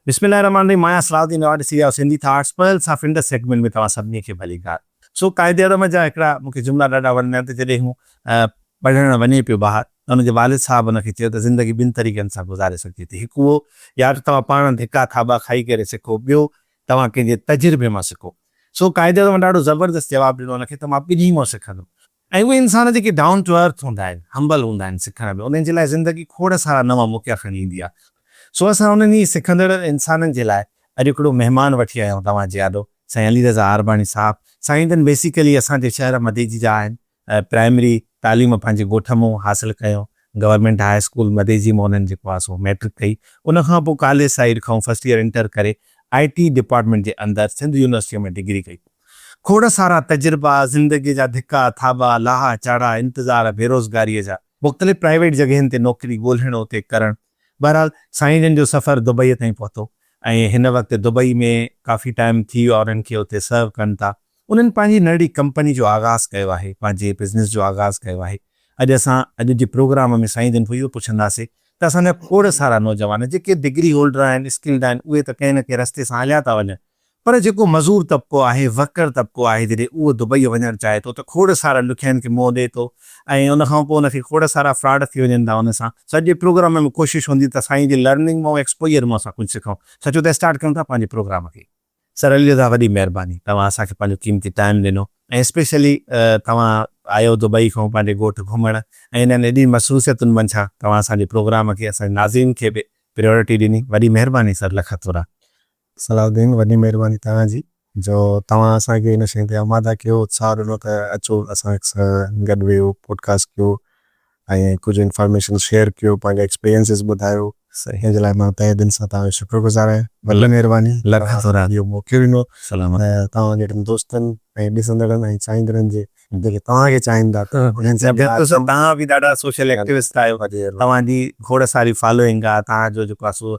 بسم الله الرحمٰن الرحيم مايا صلاح الدين اوهان ڏسي رهيا آهيو سنڌي ٿاٽس پرل سان فنڊس سيگمينٽ ۾ توهان سڀني کي ڀليڪار سو قائد اعظم جا هڪڙا مون کي جملا ڏاڍا وڻندا آهن ته جڏهن هو پڙهڻ وڃي پيو ٻاهر ته هن جي والد صاحب هن کي چيو ته زندگي ٻن طريقن سان گذاري سگهجي ٿي هڪ اهو يا ته توهان پاڻ ڌڪا ٿاٻا کائي ڪري سکو ٻيو توهان ڪنهن جي تجربي مان سکو سو قائد اعظم ڏاڍو زبردست جواب ڏنو هن کي ته مان ٻنهي مان سکندم ۽ اهي انسان جيڪي ڊائون ٽو ارٿ هوندا آهن، همبل هوندا آهن، سکڻ ۾ انهن جي لاء زندگي کوڙ سارا نوان موقعا کڻي ايندي آهي. سو اسان انهن ئي سکندڙ انسانن جي لاء اڄ هڪڙو مهمان وٺي آيا آهيون توهان جي آڏو سائين علي رضا آرباڻي صاحب. سائين جن بيسيڪلي اسان جي شهر مديجي جا آهن. پرائمري تعليم پنهنجي ڳوٺ مون حاصل ڪيو. گورنمينٽ هاء اسڪول مديجي مون انهن جيڪو آهي سو مئٽرڪ ڪئي. ان کان پوء ڪاليج سائيڊ کان فرسٽ يئر انٽر ڪري آء ٽي ڊپارٽمينٽ جي اندر سنڌ يونيورسٽيء ۾ ڊگري ڪئي. کوڙ سارا تجربا، زندگيء جا ڌڪا، ٿاٻا، لاها، چاڙها، انتظار، بيروزگاريء جا، مختلف پرائيويٽ جڳهين تي نوڪري ڳولهڻ اتي ڪرڻ، بهرحال سائين جن جو سفر دبئيء تائين پهتو ۽ هن وقت دبئي ۾ ڪافي ٽائيم ٿي ويو آهي انهن کي اتي سرو ڪن ٿا. انهن پنهنجي ننڍڙي ڪمپني جو آغاز ڪيو آهي، پنهنجي بزنس جو آغاز ڪيو آهي. اڄ اسان اڄ جي پروگرام ۾ سائين جن کان اهو پڇنداسين ته اسان جا کوڙ سارا نوجوان جيڪي ڊگري هولڊر آهن، اسڪلڊ آهن اهي ته ڪنهن نه ڪنهن رستي سان هليا ٿا وڃن پر جيڪو مزور طبقو آهي، ورڪر طبقو آهي، جڏهن اهو دبئيء وڃڻ چاهي ٿو ته کوڙ سارن ڏکيائين کي منهن ڏئي ٿو ۽ ان کان پوء ان کي کوڙ سارا فراڊ ٿي وڃن ٿا ان سان. سڄي پروگرام ۾ ڪوشش هوندي ته سائين جي لرننگ مئو ايڪسپوجر مئو اسان ڪجهه سکون. سچو ته اسٽارٽ ڪيون ٿا پنهنجي پروگرام کي. سر علي رضا وڏي مهرباني توهان اسان کي پنهنجو قيمتي ٽائيم ڏنو ۽ اسپيشلي توهان آيو دبئي کان پنهنجي ڳوٺ گهمڻ ۽ انهن ايڏين مصروفيتن منجهان توهان اسان جي پروگرام کي اسان جي ناظرين کي به پريورٽي ڏني وڏي مهرباني سر لک ٿورا. صلاح الدين وڏي مهرباني توهان جي جو توهان اسان کي ان شين تي آماده ڪيو اتساهه ڏنو ته اچو اسان سان گڏ ويهو پوڊڪاسٽ ڪيو ۽ ڪجهه انفارميشن شيئر ڪيو پنهنجا ايڪسپيرينسز ٻڌايو ان جي لاء مان تهه دل سان توهان جو شڪر گذار آهيان وڏي مهرباني توهان کي اهو موقعو ڏنو ۽ توهان جهڙن دوستن ۽ ڏسندڙن ۽ چاهيندڙن جي جيڪي توهان کي چاهين ٿا انهن سان گڏ توهان به ڏاڍا سوشل ايڪٽيوسٽ آهيو توهان جي کوڙ ساري فالوئنگ آهي توهان جو جيڪو آهي سو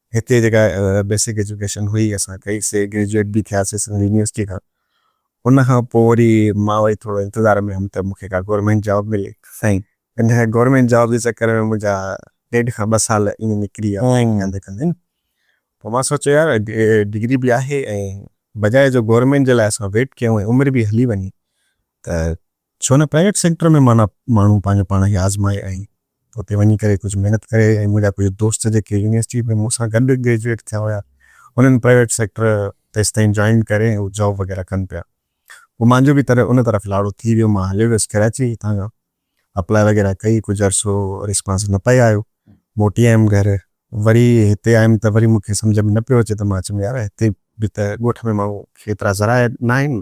هتي جيڪا بيسڪ ايجوڪيشن هئي اسان ڪئي سي گريجوئيٽ به ٿيا سي سنڌ يونيورسٽي کان ان کان پوء وري مان وري ٿورو انتظار ۾ هيم ته مون کي ڪا گورمينٽ جاب ملي سائين ان گورمينٽ جاب جي چڪر ۾ منهنجا ڏيڍ کان ٻه سال ائين نڪري ويا ڊرائنگ ڪندي ڪندي نه پوء مان سوچيو يار ڊگري به آهي ۽ بجاء جو گورمينٽ جي لاء اسان ويٽ ڪيون ۽ عمر به هلي وڃي ته ڇو نه پرائيويٽ سيڪٽر ۾ معنيٰ ماڻهو پنهنجو پاڻ کي آزمائي ۽ اتي وڃي ڪري ڪجهه محنت ڪري ۽ منهنجا ڪجهه دوست جيڪي يونيورسٽي ۾ مون سان گڏ گريجوئيٽ ٿيا هيا انهن پرائيويٽ سيڪٽر تيستائين جوائن ڪري ۽ هو جاب وغيره ڪن پيا پوء مانجو به تڏهن ان طرف لاڙو ٿي ويو مان هليو ويس ڪراچي هتان کان اپلاء وغيره ڪئي ڪجهه عرصو ريسپانس نه پئي آيو موٽي آيم گهر وري هتي آيم ته وري مون کي سمجهه ۾ نه پيو اچي ته مان چيم يار هتي به ته ڳوٺ ۾ ماڻهو کي ايترا ذرائع ناهن،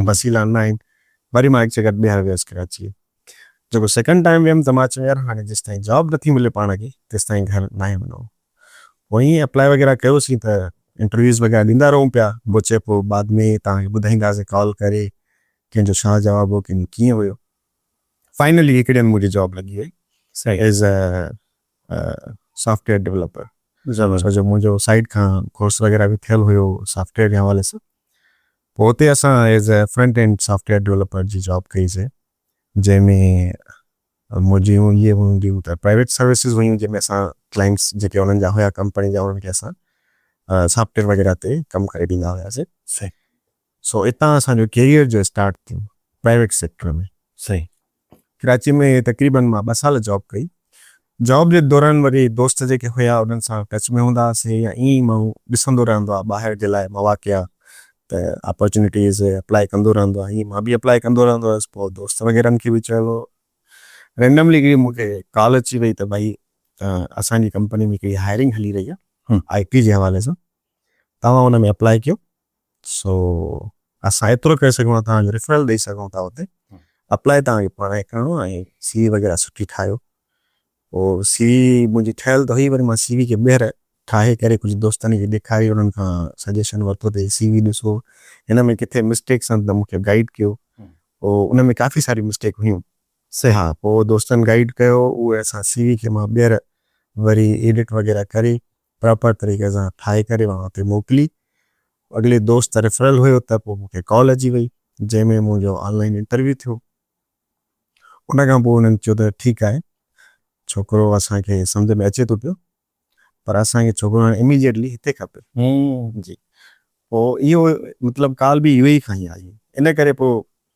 وسيلا ناهن، وري مان هڪ چڪر ٻيهر ويس ڪراچيء جيڪو سيڪنڊ ٽائيم ويم ته مان چيم يار هاڻي جيستائين جاب نٿي ملي پاڻ کي تيستائين گهر ناهي وڃڻو. پوء ائين اپلائي وغيره ڪيوسين ته انٽرويوز وغيره ڏيندا رهون پيا بو چئي پو بعد ۾ توهان کي ٻڌائينداسين ڪال ڪري ڪنهن جو ڇا جواب هو ڪنهن جو ڪيئن هيو فائنلي هڪ ڏينهن منهنجي جاب لڳي وئي as a software developer زبردست جو منهنجو سائيٽ کان ڪورس وغيره به ٿيل هيو سافٽ ويئر جي حوالي سان پوء اتي اسان as a front end software developer جي جاب ڪئي سي جنهن ۾ منهنجيون اهي هونديون ته پرائيويٽ سروسز هيون جنهن ۾ اسان ڪلائنٽس جيڪي انهن جا هيا ڪمپني جا انهن کي اسان سافٽ ويئر وغيره تي ڪم ڪري ڏيندا هياسي سي سو اتان اسان جو ڪيريئر جو اسٽارٽ ٿيو پرائيويٽ سيڪٽر ۾ سائين ڪراچي ۾ تقريبن مان ٻه سال جاب ڪئي جاب جي دوران وري دوست جيڪي هيا انهن سان ٽچ ۾ هوندا هئاسين يا ائين ئي ماڻهو ڏسندو رهندو آهي ٻاهر جي لاء مواقع ته اپارچونيٽيز اپلائي ڪندو رهندو آهي ائين مان به اپلائي ڪندو رهندو هيس پوء دوست وغيرهن کي به چيو رينڊملي هڪڙي مون کي ڪال اچي وئي ته ڀائي اسان جي ڪمپني ۾ هڪڙي هائرنگ هلي رهي آهي آئي ٽي جي حوالي سان توهان ان ۾ اپلائي ڪيو سو اسان ايترو ڪري سگهون ٿا توهان جو ريفرل ڏئي سگهون ٿا اتي اپلائي توهان کي پاڻ ئي ڪرڻو آهي ۽ سي وي وغيره سٺي ٺاهيو پوء سي وي منهنجي ٺهيل ته هئي وري مان سي وي کي ٻيهر ٺاهي ڪري ڪجهه دوستن کي ڏيکاري انهن کان سجيشن ورتو ته هي سي وي ڏسو هن ۾ ڪٿي مسٽيڪس آهن ته مون کي گائيڊ ڪيو پوء ان ۾ ڪافي ساري مسٽيڪ هيون سي ها پوء دوستن گائيڊ ڪيو اهي اسان سي وي کي مان ٻيهر وري ايڊٽ وغيره ڪري پراپر طريقي سان ٺاهي ڪري مان اتي موڪلي اڳلي دوست ريفرل هيو ته پوء مون کي ڪال اچي وئي جنهن ۾ منهنجو آن لائين انٽرويو ٿيو ان کان پوء انهن چيو ته ٺيڪ آهي ڇوڪرو اسان کي سمجهه ۾ اچي ٿو پيو پر اسان کي ڇوڪرو هاڻي اميڊيٽلي هتي کپي جي پوء اهو مطلب ڪال به يو اي اي کان ئي آئي ان ڪري پوء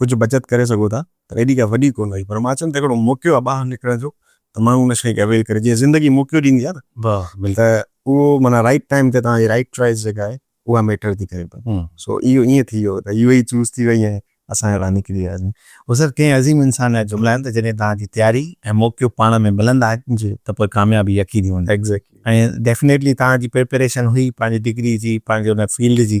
ڪجهه بچت ڪري سگهو ٿا پر ايڏي ڪا وڏي ڪونه هئي پر مان چيم ته هڪڙو موقعو آهي ٻاهر نڪرڻ جو ته ماڻهو ان شيء کي اويل ڪري جيئن زندگي موقعو ڏيندي آهي نه ته اهو معنيٰ رائٽ ٽائيم تي توهان جي رائٽ چوائس جيڪا آهي اها ميٽر ٿي ڪري پئي سو اهو ائين ٿي ويو ته يو اي اي چوز ٿي وئي ۽ اسان هتان نڪري وياسين. هو سر ڪئين عظيم انسان جا جملا آهن ته جڏهن توهان جي تياري ۽ موقعو پاڻ ۾ ملندا آهن ته پوء ڪاميابي يقيني هوندي ۽ ڊيفنيٽلي توهان جي پريپريشن هئي پنهنجي ڊگري جي پنهنجي ان فيلڊ جي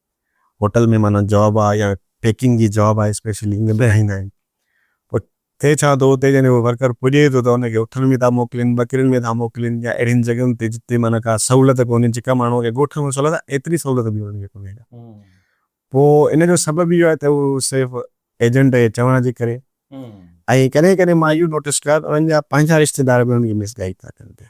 هوٽل ۾ معنيٰ جاب آهي يا پيڪنگ جي جاب آهي اسپيشلي ايئن ٻڌائيندا آهن پوء ٿئي ڇا ٿو اتي جڏهن هو ورڪر پڄي ٿو ته ان کي اٺن ۾ ٿا موڪلين ٻڪرين ۾ ٿا موڪلين يا اهڙين جڳهين تي جتي معنيٰ ڪا سهولت ڪونهي جيڪا ماڻهوء کي ڳوٺ ۾ سهولت آهي ايتري سهولت به انهن کي ڪونهي ڪا پوء ان جو سبب اهو آهي ته هو صرف ايجنٽ جي چوڻ جي ڪري ۽ ڪڏهن ڪڏهن مان اهو نوٽس ڪيو آهي ته انهن جا پنهنجا رشتيدار به انهن کي مس گائيڊ ٿا ڪن پيا.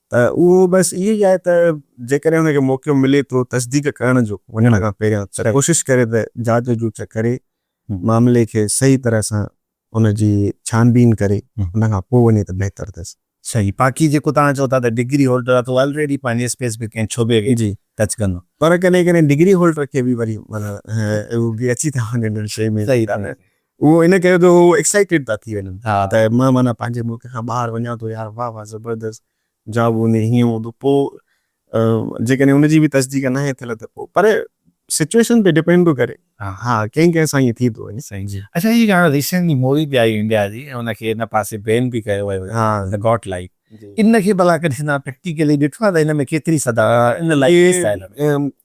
ته اهو بس اهو ئي آهي ته جيڪڏهن هن کي موقعو ملي ٿو تصديق ڪرڻ جو وڃڻ کان پهريان ته ڪوشش ڪري ته جاچ جوچ ڪري معاملي کي صحيح طرح سان ان جي ڇان بين ڪري ان کان پوء وڃي ته بهتر اٿس. صحيح باقي جيڪو توهان چئو ٿا ته ڊگري هولڊر آهي ته اهو الريڊي پنهنجي اسپيسفڪ ڪنهن شعبي کي ٽچ ڪندو. پر ڪڏهن ڪڏهن ڊگري هولڊر کي به وري معنيٰ اهو به اچي ٿا وڃن ان شيء ۾ اهو ان ڪري ته هو ايڪسائيٽيڊ ٿا ٿي وڃن ها ته مان معنيٰ پنهنجي ملڪ کان ٻاهر وڃان ٿو يار واهه واهه زبردست جابو ني هيئن هوندو پوء جيڪڏهن ان جي به تصديق ناهي ٿيل ته پوء پر سچوئيشن تي ڊپينڊ ٿو ڪري ها ڪنهن ڪنهن سان ائين ٿي ٿو وڃي. سائين جي اچا هي گانا ريسينٽلي موري به آئي انڊيا جي ۽ ان کي ان پاسي بين به ڪيو ويو هو گاٽ لائيڪ ان کي ڀلا ڪڏهن توهان پريڪٽيڪلي ڏٺو آهي ته ان ۾ ڪيتري صدا ان لائيڪ ڪيس آهي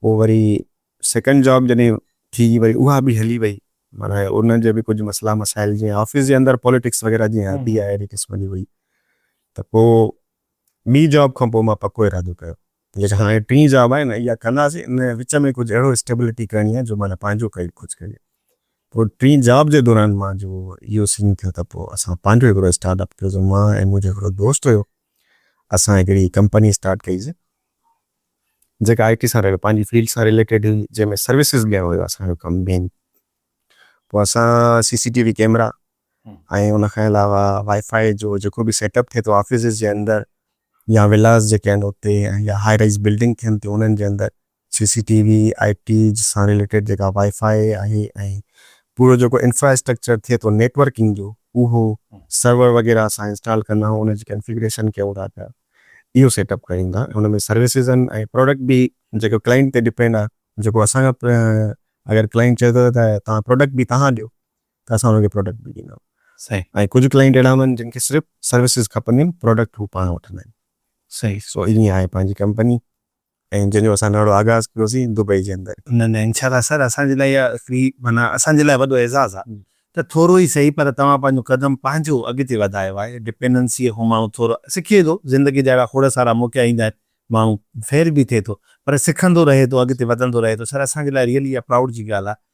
پوء وري سيڪنڊ جاب جڏهن ٿي وري اها به هلي وئي معنيٰ ان جا به ڪجهه مسئلا مسائل جيئن آفيس جي اندر پاليٽڪس وغيره جيئن آبي آهي اهڙي قسم جي هئي ته پوء ٻي جاب کان پوء مان پڪو ارادو ڪيو جيڪا هاڻي ٽين جاب آهي نه اها ڪنداسي ان وچ ۾ ڪجهه اهڙو اسٽيبلٽي ڪرڻي آهي جو معنيٰ پنهنجو ڪري ڪجهه ڪري پوء ٽين جاب جي دوران مان جو اهو سين ٿيو ته پوء اسان پنهنجو هڪڙو اسٽارٽ اپ ڪيوسون مان ۽ منهنجو هڪڙو دوست هيو اسان هڪڙي ڪمپني اسٽارٽ ڪئي سي جيڪا آء ٽي سان رليو پنهنجي فيلڊ سان رليٽيڊ هئي جنهن ۾ سروسز ڏيڻ هيو اسان جو ڪم مين پوء اسان C C T V camera ۽ ان کان علاوه وائي فائي جو جيڪو به سيٽ اپ ٿئي ٿو آفيسز جي اندر يا ولاز جيڪي آهن اتي ۽ يا هائي رائيز بلڊنگ ٿين ٿيون انهن جي اندر C C T V I T سان رليٽيڊ جيڪا وائي فائي آهي ۽ پورو جيڪو انفراسٽرڪچر ٿئي ٿو نيٽ ورڪنگ جو اهو سرور وغيره اسان انسٽال ڪندا آهيون ان جي ڪنفيگريشن ڪيون ٿا ته اهو سيٽ اپ ڪريون ٿا ان ۾ سروسز آهن ۽ پراڊڪٽ به جيڪو ڪلائنٽ تي ڊپينڊ آهي جيڪو اسان کان اگر ڪلائنٽ چئي ٿو ته توهان پراڊڪٽ به توهان ڏيو ته اسان ان کي پراڊڪٽ به ڏيندا صحيح ۽ ڪجهه ڪلائنٽ اهڙا هوندا آهن جن کي صرف سروسز کپنديون آهن پراڊڪٽ هو پاڻ وٺندا آهن صحيح سو ائين آهي پنهنجي ڪمپني. ۽ جنهن جو اسان نئڙو آغاز ڪيوسين دبئي جي اندر. نه نه انشاء الله سر اسان جي لاء اها هڪڙي معنيٰ اسان جي لاء وڏو اعزاز آهي ته ٿورو ئي سهي پر توهان پنهنجو قدم پنهنجو اڳتي وڌايو آهي ڊپينڊنسيء کان ماڻهو ٿورو سکي ٿو زندگي جا اهڙا کوڙ سارا موقعا ايندا آهن ماڻهو فيل به ٿئي ٿو پر سکندو رهي ٿو اڳتي وڌندو رهي ٿو سر اسان جي لاء ريئلي اها پرائوڊ جي ڳالهه آهي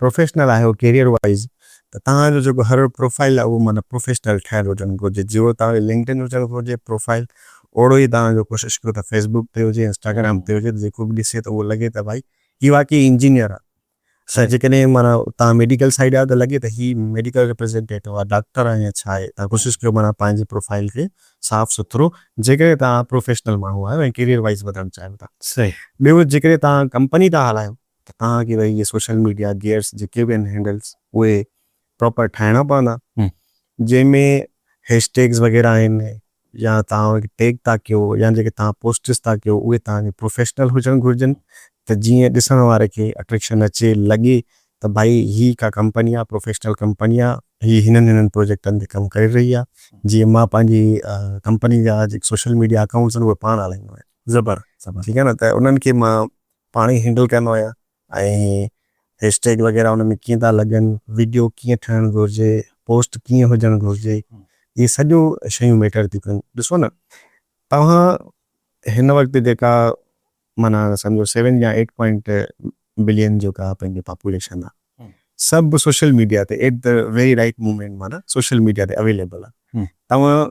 پروفيشنل آهيو ڪيريئر وائيز ته توهان جو جيڪو هر پروفائيل آهي اهو معنيٰ پروفيشنل ٺهيل هجڻ گهرجي جهڙو توهان جو لنڪڊن هجڻ گهرجي پروفائيل اوڙو ئي توهان جو ڪوشش ڪيو ته فيسبوڪ تي هجي انسٽاگرام تي هجي ته جيڪو به ڏسي ته اهو لڳي ته ڀائي هي واقعي انجنيئر آهي ۽ جيڪڏهن معنيٰ توهان ميڊيڪل سائيڊ آهيو ته لڳي ته هي ميڊيڪل ريپريزينٽيٽو آهي ڊاڪٽر آهي يا ڇا آهي توهان ڪوشش ڪيو معنيٰ پنهنجي پروفائيل کي صاف سٿرو جيڪڏهن توهان پروفيشنل ماڻهو آهيو ۽ ڪيريئر وائيز وڌڻ چاهيو ٿا ٻيو جيڪڏهن توهان ڪمپني ٿا هلايو ته توهان کي ويهي سوشل ميڊيا گيئرس جيڪي به آهن هينڊلس اهي پراپر ٺاهڻا پوندا جنهن ۾ هيش ٽيگس وغيره آهن يا توهان ٽيگ ٿا ڪيو يا جيڪي توهان پوسٽس ٿا ڪيو اهي توهان جي پروفيشنل هجڻ گهرجن ته جيئن ڏسڻ واري کي اٽريڪشن اچي لڳي ته ڀائي هي ڪا ڪمپني آهي پروفيشنل ڪمپني آهي هي هنن هنن پروجيڪٽن تي ڪم ڪري رهي آهي جيئن مان پنهنجي ڪمپني جا جيڪي سوشل ميڊيا اڪائونٽس آهن اهي پاڻ هلائيندو آهيان زبر زبر ٺيڪ آهي نه ته انهن کي مان پاڻ ئي هينڊل ڪندا آهيان ۽ هيش ٽيگ وغيره ان ۾ ڪيئن ٿا لڳن، ويڊيو ڪيئن ٺهڻ گهرجي، پوسٽ ڪيئن هجڻ گهرجي، اهي سڄو شيون ميٽر ٿيون ڪن. ڏسو نه توهان هن وقت جيڪا معنيٰ سمجهو سيون يا ايٽ پوائنٽ بلين جيڪا پنهنجي پاپوليشن آهي سڀ سوشل ميڊيا تي at the very right moment معنيٰ سوشل ميڊيا تي اويليبل آهي. توهان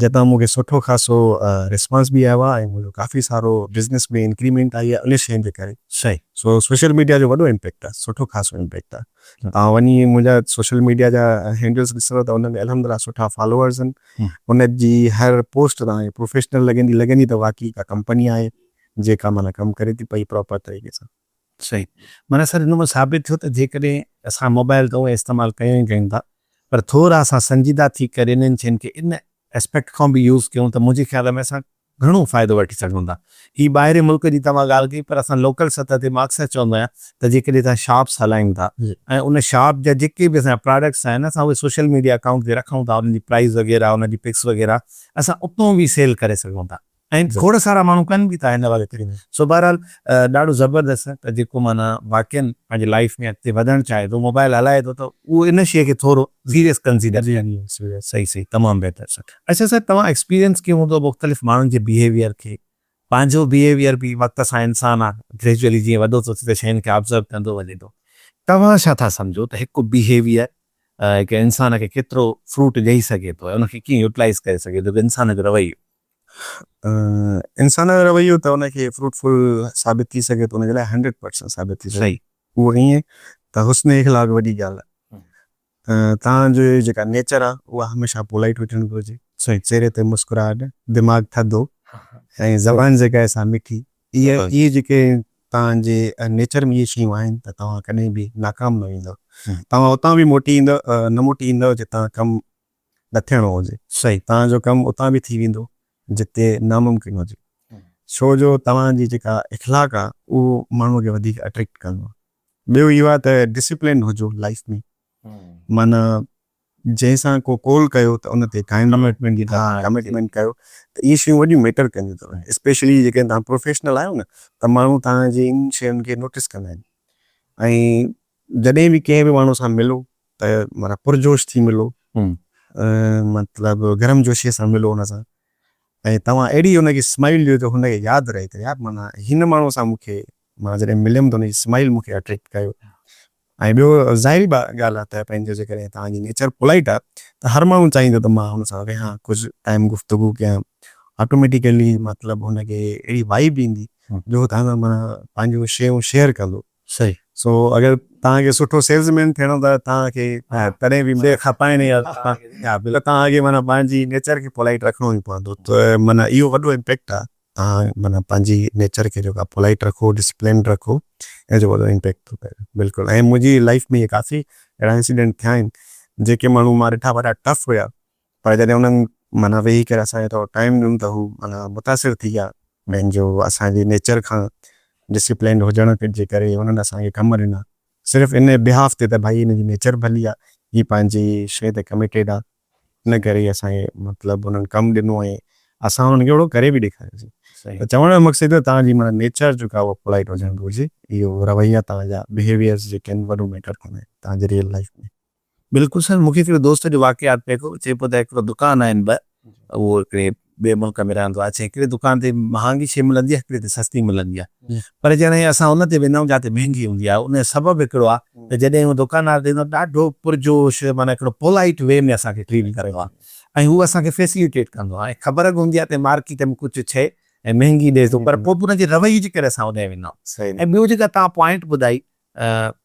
جتان مون کي سٺو خاصو ريسپانس به آيو آهي ۽ منهنجو ڪافي سارو بزنس ۾ انڪريمينٽ آئي آهي انهن شين جي ڪري سو سوشل ميڊيا جو وڏو امپيڪٽ آهي سٺو خاصو امپيڪٽ آهي توهان وڃي منهنجا سوشل ميڊيا جا هينڊلز ڏسندو ته ان ۾ الحمدلله سٺا فالوورز آهن ان جي هر پوسٽ توهان کي پروفيشنل لڳندي لڳندي ته واقعي ڪا ڪمپني آهي جيڪا معنيٰ ڪم ڪري ٿي پئي پراپر طريقي سان. صحيح معنيٰ سر ان مان ثابت ٿيو ته جيڪڏهن اسان موبائل ته اونئين استعمال ڪيون ئي ڪيون ٿا پر ٿورا اسان سنجيده ٿي ڪري انهن شين کي ان اسپيڪٽ کان به يوز ڪيون ته منهنجي خيال ۾ اسان گهڻو فائدو وٺي سگهون ٿا هي ٻاهرين ملڪ جي توهان ڳالهه ڪئي پر اسان لوڪل سطح تي مان اڪثر چوندو آهيان ته جيڪڏهن اسان شاپس هلايون ٿا ۽ ان شاپ جا جيڪي به اسان جا پراڊڪٽس آهن اسان اهي سوشل ميڊيا اڪائونٽ تي رکون ٿا انهن جي پرائز وغيره انهن جي پڪس وغيره اسان اتون به سيل ڪري سگهون ٿا. ۽ کوڙ سارا ماڻهو ڪن به ٿا هن وقت سو بهرحال ڏاڍو زبردست آهي ته جيڪو معنيٰ واقعا پنهنجي لائيف ۾ اڳتي وڌڻ چاهي ٿو موبائل هلائي ٿو ته اهو ان شيء کي ٿورو سيريس ڪنسيڊر ڪري صحيح صحيح تمام بهتر سر اچا سر توهان ايڪسپيرينس ڪيو هوندو مختلف ماڻهن جي بيهيويئر کي پنهنجو بيهيويئر به وقت سان انسان آ گريجوئلي جيئن وڏو ٿو ٿي ته شين کي آبزرو ڪندو وڃي ٿو توهان ڇا ٿا سمجهو ته هڪ بيهيويئر هڪ انسان کي ڪيترو فروٽ ڏئي سگهي ٿو ۽ ان کي ڪيئن يوٽلائيز ڪري سگهي ٿو هڪ انسان جو رويو. انسان جو رويو ته ان کي فروٽفل ثابت ٿي سگهي ته ان جي لاء هنڊريڊ پرسنٽ ثابت ٿي سگهي اهو ائين ته حسن اخلاق وڏي ڳالهه آهي تان جو جيڪا نيچر آهي اها هميشه پولائيٽ هجڻ گهرجي چهري تي مسڪراهٽ دماغ ٿڌو ۽ زبان جيڪا آهي سا مٺي اهي اهي جيڪي تان جي نيچر ۾ اهي شيون آهن ته توهان ڪڏهن به ناڪام نه ويندو توهان اتان به موٽي ايندو نه موٽي ايندو جتان ڪم نه ٿيڻو هجي. صحيح توهان جو ڪم اتان به ٿي ويندو جتي ناممڪن هجي ڇو جو توهان جي جيڪا اخلاق آ اهو ماڻهو کي وڌيڪ اٽريڪٽ ڪندو آ ٻيو اهو آ ته ڊسپلين هجو لائيف ۾ معنيٰ جنهن سان ڪو قول ڪيو ته ان تي قائم رهو ڪمٽمينٽ ڪيو ته اهي شيون وڏيون ميٽر ڪنديون ٿيون اسپيشلي جيڪڏهن توهان پروفيشنل آهيو نه ته ماڻهو توهان جي ان شين کي نوٽس ڪندا آهن ۽ جڏهن به ڪنهن به ماڻهو سان ملو ته معنيٰ پرجوش ٿي ملو مطلب گرم جوشيء سان ملو هن سان ۽ توهان اهڙي هن کي اسمائيل ڏيو جو هن کي ياد رهي ته يار معنيٰ هن ماڻهو سان مون کي مان جڏهن مليم ته هن جي اسمائيل مون کي اٽريڪٽ ڪيو ۽ ٻيو ظاهري ڳالهه آهي ته پنهنجو جيڪڏهن توهان جي نيچر پولائيٽ آهي ته هر ماڻهو چاهيندو ته مان هن سان ويهان ڪجهه ٽائيم گفتگو ڪيان آٽوميٽيڪلي مطلب هن کي اهڙي وائيب ايندي جو هو توهان سان معنيٰ پنهنجون شيون شيئر ڪندو. صحيح سو اگر توهان کي سٺو سيلز مين ٿيڻو ته توهان کي ڪڏهن به ٻئي کان پائڻي آ ته توهان کي معنيٰ پنهنجي نيچر کي پولائٽ رکڻو ئي پوندو ته معنيٰ اهو وڏو امپيڪٽ آ توهان معنيٰ پنهنجي نيچر کي جيڪو آ پولائٽ رکو ڊسپلنڊ رکو ان جو وڏو امپيڪٽ ٿو پئي بلڪل ۽ منهنجي لائيف ۾ ڪافي اهڙا انسيڊنٽ ٿيا آهن جيڪي ماڻهو مان ڏٺا وڏا ٽف هيا پر جڏهن انهن معنيٰ ويهي ڪري اسان کي ٿورو ٽائيم ڏنو ته هو معنيٰ متاثر ٿي ويا ۽ جو اسان جي نيچر کان ڊسپلينڊ هجڻ جي ڪري هنن اسان کي ڪم ڏنا صرف ان بهاف تي ته ڀائي هن جي نيچر ڀلي آ هي پنهنجي شيء تي ڪميٽيڊ آ ان ڪري اسان کي مطلب هنن ڪم ڏنو ۽ اسان هنن کي اهڙو ڪري به ڏيکاريوسين ته چوڻ جو مقصد اهو توهان جي معنيٰ نيچر جيڪا اهو پولائيٽ هجڻ گهرجي اهو رويا توهان جا بهيويئرز جيڪي آهن وڏو ميٽر ڪندا آهن توهان جي ريئل لائيف ۾. بلڪل سائين مون کي هڪڙي دوست جو واقعو ياد پئي ڪيو چئي پيو ته هڪڙو دڪان آهن ٻه اهو هڪڙي ٻئي ملڪ ۾ رهندو آهي چي هڪڙي دڪان تي مهانگي شي ملندي آهي هڪڙي تي سستي ملندي آهي پر جڏهن اسان ان تي ويندا آهيون جتي مهنگي هوندي آهي ان جو سبب هڪڙو آهي ته جڏهن هو دڪاندار ڏيندو آهي ڏاڍو پرجوش معنيٰ هڪڙو پولائيٽ وي ۾ اسان کي ٽريٽ ڪريو آهي ۽ هو اسان کي فيسليٽيٽ ڪندو آهي ۽ خبر به هوندي آهي ته مارڪيٽ ۾ ڪجهه شي ۽ مهنگي ڏي ٿو پر پوء به ان جي رويي جي ڪري اسان هوڏانهن ويندا آهيون ۽ ٻيو جيڪا توهان پوائنٽ ٻڌائي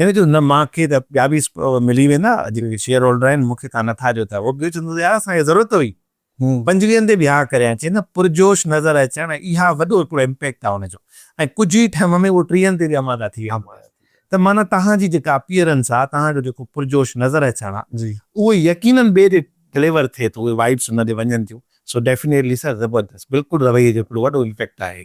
هن چيو نه مان کي ته ٻيا به ملي ويندا جيڪي شيئر هولڊر آهن مون کي تان نٿا ڏيو ته هو ٻيو چوندو ته يار اسان کي ضرورت هئي پنجويهن تي به ها ڪريان چي نه پرجوش نظر اچڻ ۽ اها وڏو هڪڙو امپيڪٽ آهي ان جو ۽ ڪجهه ئي ٽئم ۾ اهو ٽيهن تي به اماده ٿي ويندو ته معنيٰ توهان جي جيڪا اپيئرنس آهي توهان جو جيڪو پرجوش نظر اچڻ آهي اهو يقينن ٻئي ڏي ڊليور ٿئي ٿو اهي وائبس ان ڏي وڃن ٿيون سو ڊيفينيٽلي سر زبردست بلڪل رويي جو هڪڙو وڏو امپيڪٽ آهي.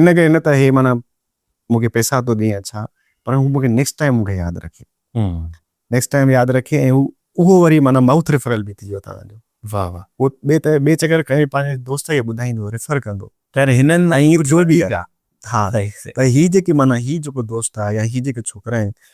ان ڪري نه ته هي معنيٰ مون کي پئسا ٿو ڏئي يا ڇا پر هو مون کي نيڪسٽ ٽائيم مون کي ياد رکي نيڪسٽ ٽائيم ياد رکي ۽ هو اهو وري معنيٰ مائوٿ ريفرل به ٿي ويو تهان جو واهه واهه هو ٻي ته ٻي چڪر کڻي پنهنجي دوست کي ٻڌائيندو ريفر ڪندو خير هنن ۽ جو به آهي ها ته هي جيڪي معنيٰ هي جيڪو دوست آهي يا هي جيڪي ڇوڪرا آهن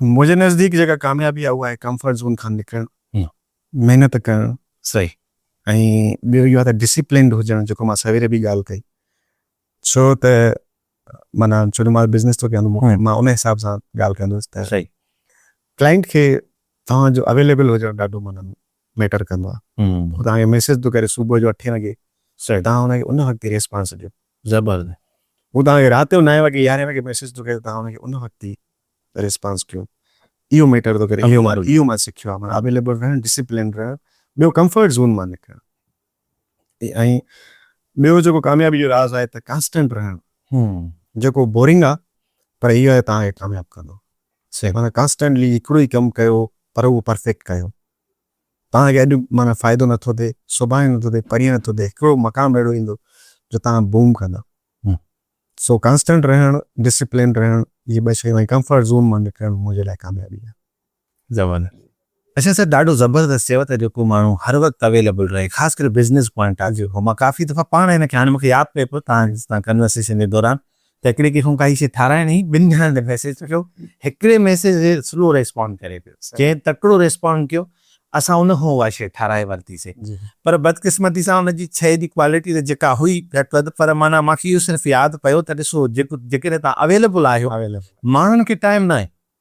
منهنجي نزديڪ جيڪا ڪاميابي آهي اها آهي ڪمفرٽ زون کان نڪرڻ، محنت ڪرڻ صحيح ۽ ٻيو اهو آهي ته ڊسپلنڊ هجڻ جيڪو مان سويري به ڳالهه ڪئي ڇو ته معنيٰ ڇو جو مان بزنس ٿو ڪيان ته مان ان حساب سان ڳالهه ڪندس ته ڪلائنٽ کي توهان جو اويليبل هجڻ ڏاڍو معنيٰ ميٽر ڪندو آهي هو توهان کي ميسيج ٿو ڪري صبح جو اٺين وڳي تان هن کي ان وقت ريسپانس ڏيو زبرد مون توهان کي رات جو نائين وڳي يارهين وڳي ميسيج ٿو ڪيان توهان ان کي ان وقت ئي ريسپانس ڪيو اهو ميٽر ٿو ڪري اهو مان سکيو آهي معنيٰ اويليبل رهڻ ڊسيپلنڊ رهڻ ٻيو ڪمفرٽ زون مان نڪرڻ ۽ ٻيو جيڪو ڪاميابي جو راز آهي ته ڪانسٽنٽ رهڻ جيڪو بورنگ آهي پر اهو آهي توهان کي ڪامياب ڪندو معنيٰ ڪانسٽنٽلي هڪڙو ئي ڪم ڪيو پر اهو پرفيڪٽ ڪيو. توهان کي اڄ معنيٰ فائدو نٿو ٿئي، سڀاڻي نٿو ٿئي، پرينء نٿو ٿئي، هڪڙو مقام اهڙو ايندو جو توهان بوم ڪندؤ. سو ڪانسٽنٽ رهڻ، ڊسپلنڊ رهڻ، اهي ٻه شيون ۽ ڪمفرٽ زون مان نڪرڻ منهنجي لاء ڪاميابي آهي. زبردست اچا سر ڏاڍو زبردست چيو ته جيڪو ماڻهو هر وقت اويليبل رهي خاص ڪري بزنس پوائنٽ آف ويو کان مان ڪافي دفعا پاڻ هن کي هاڻي مونکي ياد پئي پيو توهان سان ڪنورسيشن جي دوران ته هڪڙي ڪنهن کان ڪائي شيء ٺارايڻ هي ٻن ڄڻن تي ميسيج ٿو ڪيو هڪڙي ميسيج تي سلو ريسپانڊ ڪري پيو جنهن تڪڙو ريسپانڊ ڪيو اسان ان کان اها شيء ٺاراهي ورتي سي پر بدقسمتي سان ان جي شيء جي ڪوالٽي ته جيڪا هئي گهٽ وڌ پر معنيٰ مانکي اهو صرف ياد پيو ته ڏسو جيڪڏهن توهان اويليبل آهيو ماڻهن کي ٽائيم ناهي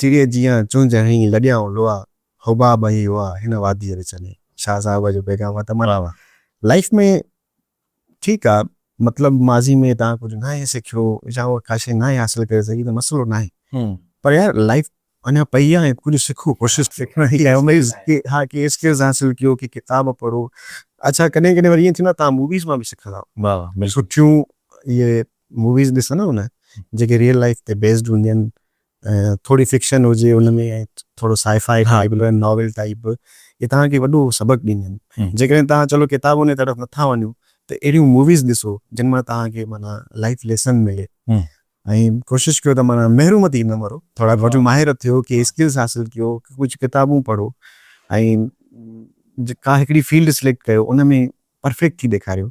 چڙيء جيان چونج هنئين، لڏيائون لوئا، حباب ۽ هئا هن واديء وچ ۾. شاهه صاحب جو پيغام هو ته ملا واهه لائيف ۾ ٺيڪ آ مطلب ماضي ۾ توهان ڪجهه ناهي سکيو يا اها ڪا شيء ناهي حاصل ڪري سگهي ته مسئلو ناهي پر يار لائيف اڃا پئي آ ۽ ڪجهه سکو ڪوشش سکڻ جي اميد ڪي ها ڪي اسڪلز حاصل ڪيو ڪي ڪتاب پڙهو اڇا ڪڏهن ڪڏهن وري ائين ٿيندو آ توهان موويز مان به سکندا سٺيون اهي موويز ڏسندا آهيو نه جيڪي ريئل لائيف تي بيسڊ هونديون آهن ٿوري فڪشن هجي ان ۾ ۽ ٿورو سائي فائي ٽائيپ به ناول ٽائيپ به اهي توهان کي وڏو سبق ڏينديون آهن جيڪڏهن توهان چلو ڪتابن جي طرف نٿا وڃو ته اهڙيون موويز ڏسو جن مان توهان کي معنيٰ لائيف ليسن ملي ۽ ڪوشش ڪيو ته معنيٰ محروم ٿي نه مرو ٿورا گهٽ ماهر ٿيو ڪي اسڪلز حاصل ڪيو ڪجهه ڪتابون پڙهو ۽ ڪا هڪڙي فيلڊ سليڪٽ ڪيو ان ۾ پرفيڪٽ ٿي ڏيکاريو.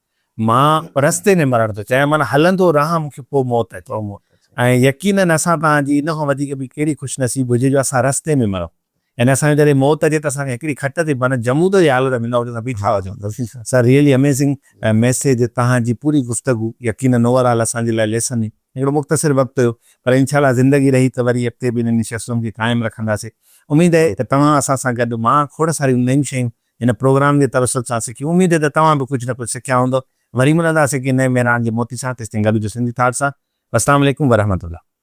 مان رستي ۾ مرڻ ٿو چاهيان، معنيٰ هلندو رهان، مون کي پوء موت اچي. ۽ يقيناً اسان تان جي ان کان وڌيڪ ٻي ڪهڙي خوشنصيب هجي جو اسان رستي ۾ مرون. يعني اسان جو جڏهن موت اچي ته اسان کي هڪڙي کٽ تي معنيٰ جمود جي حالت ۾ نه هجون ته بيٺا هجون. سر ريئلي اميزنگ ميسيج توهان جي پوري گفتگو يقيناً اوور آل اسان جي لاء ليسن هئي. هڪڙو مختصر وقت هيو پر انشاء الله زندگي رهي ته وري اڳتي به انهن نشستن کي قائم رکنداسين. اميد اهي ته توهان اسان سان گڏ مان کوڙ ساريون نيون شيون هن پروگرام جي توسط سان سکي اميد آهي ته توهان به ڪجهه نه ڪجهه سکيا هوندؤ وري ملنداسين ڪنهن نئين مهراڻ جي موتي سان تيستائين گڏ هجو سنڌي ٿاٽ سان والسلام عليڪم ورحمة الله.